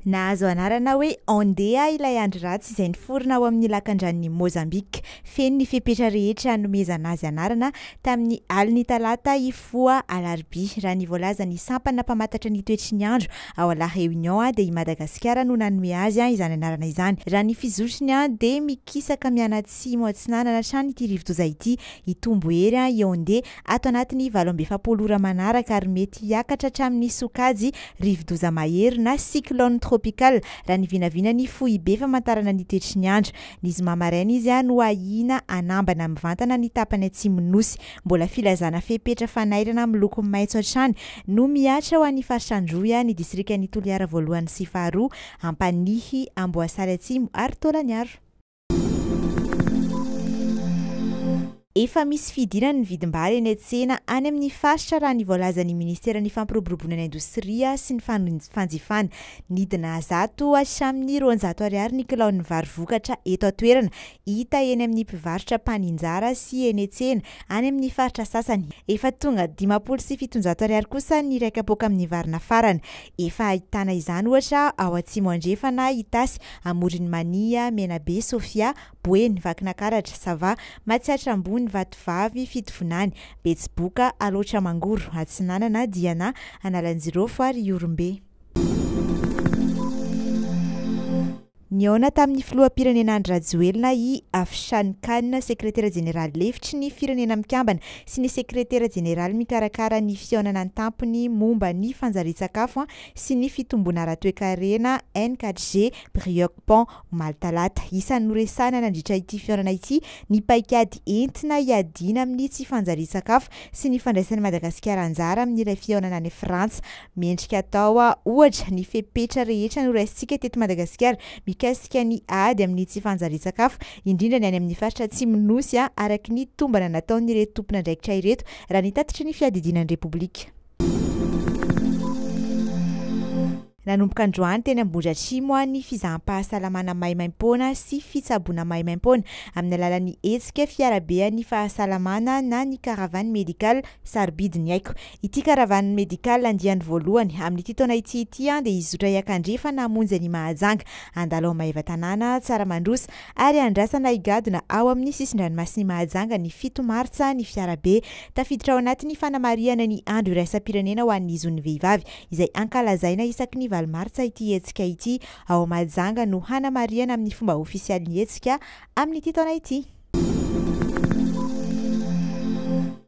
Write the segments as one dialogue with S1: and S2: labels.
S1: Nahazo anarana hoe Andea ilay andry ratsy izay niforona ao amin'ny lakandranon'i Mozambika. Feno ny fepetra rehetra hanomezana azy anarana tamin'ny alin'ny talata hifoha alarobia. Raha ny voalazan'ny sampana mpamantatra ny toetry ny andro ao La Réunion dia i Madagasikara no nanome azy izany anarana izany. Raha ny fizotriny dia mikisaka mianatsimo-atsinanana hatrany ity rivodoza ity hitombo hery i Andea. ato anatin'ny valo amby efapolo ora manaraka ary mety hiakatra hatramin'ny sokajy rivodoza mahery na cyclone tropical raha ny vinavinan'ny foibe famantarana ny toetry ny andro. Ny zoma maraina izy no ahiana hanambana mivantana ny tapany atsimon'ny Nosy. Mbola filazana fepetra fanairana miloko maitso hatrany no mihatra ho an'ny faritra Androy, ny distrikan'i Toliara voalohany sy faharoa, Ampanihy, Amboasary atsimo ary Tolaniaro. Efa misy fihidirana ny vidim-bary eny an-tsena any amin'ny faritra raha ny voalazan'ny minisiteran'ny Fampiroboroboana ny indostria sy ny fanjifana. Nidina zato hatramin'ny roanjato ariary ny kilaon'ny vary vokatra eto an-toerana, hita eny amin'ny mpivarotra mpaninjara sy eny an-tsena any amin'ny faritra sasany. Efa tonga dimampolo sy fitonjato ariary kosa ny iray kapoaka amin'ny vary nafarana. Efa ahitana izany ohatra ao Atsimo Andrefana, Itasy, Amoron'i Mania, Menabe, Sofia, Boeny, Vakinakaratra, Sava, Matsiatra Ambony, Vatovavy, Fitovonany, Betsiboka, Alaotra Mangoro, Atsinanana, Diana, Analanjirofo ary Ihorombe. Nihaona tamin'ny Filoham-pirenena Andry Rajoelina i Afshan Khan, Sekretera Jeneraly Lefitry ny Firenena Mikambana sy ny Sekretera Jeneraly mikarakara ny fihaonana an-tampony momba ny fanjarian-tsakafo sy ny fitomboana ara-toekarena, NKJ, Brioc Pan, omaly talata. Isan'ny noresahina nandritra ity fihaonana ity ny paikady entina hiadiana amin'ny tsy fanjarian-tsakafo sy ny fandraisan'i Madagasikara anjara amin'ilay fihaonana any Frantsa. Mendrika atao, ohatra, ny fepetra rehetra noraisintsika teto Madagasikara mikasika ny ady amin'ny tsy fanjarian-tsakafo, indrindra ny any amin'ny faritra Atsimon'ny Nosy, araka ny tombana nataon'ireto tompon'andraikitra ireto, raha ny tatitry ny Fiadidiana ny Repoblika. Nanomboka androany teny Ambohidratrimo ny fizaham-pahasalamana maimaimpoana sy fitsaboana maimaimpoana amin'ny alalan'ny hetsika Fiarabean'ny fahasalamana na ny Caravane Médicale Sarobidy ny aiko. Ity Caravane Médicale andiany voalohany amin'ity taona ity ity dia hizotra hiakandrefa namonjy an'i Mahajanga, Andalo Maevatanàna, Tsaramandrosa, ary andrasana higadona ao amin'ny sisin-dranomasin'i Mahajanga ny fito martsa ny fiarabe. Tafiditra ao anatin'ny fanamarihana ny andro iraisam-pirenena ho an'ny zon'ny vehivavy izay ankalazaina isaky ny valo martsa ity hetsika ity. Ao Mahajanga no hanamarihana amin'ny fomba ofisialy ny hetsika amin'ity taona ity.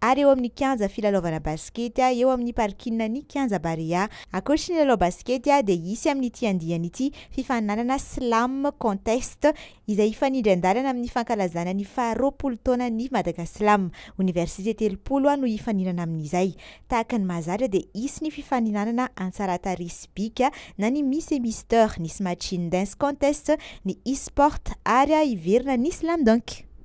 S1: ary eo amin'ny kianja filalaovana basikety eo amin'ny parkinan'ny kianja Barea. Ankoatry ny lalao basikety dia hisy amin'ity andiany ity fifaninanana Slam Contest izay hifanindran-dalana amin'ny fankalazana ny faha roapolo taonan'ny Madagaslam. Oniversite telopolo no hifaninana amin'izay. Tahaka ny mahazatra dia hisy ny fifaninanana an-tsaratarehy sy bika na ny Miss et Mister, nisy Machine Dance Contest, ny e-sport ary hiverina ny Slam Dunk.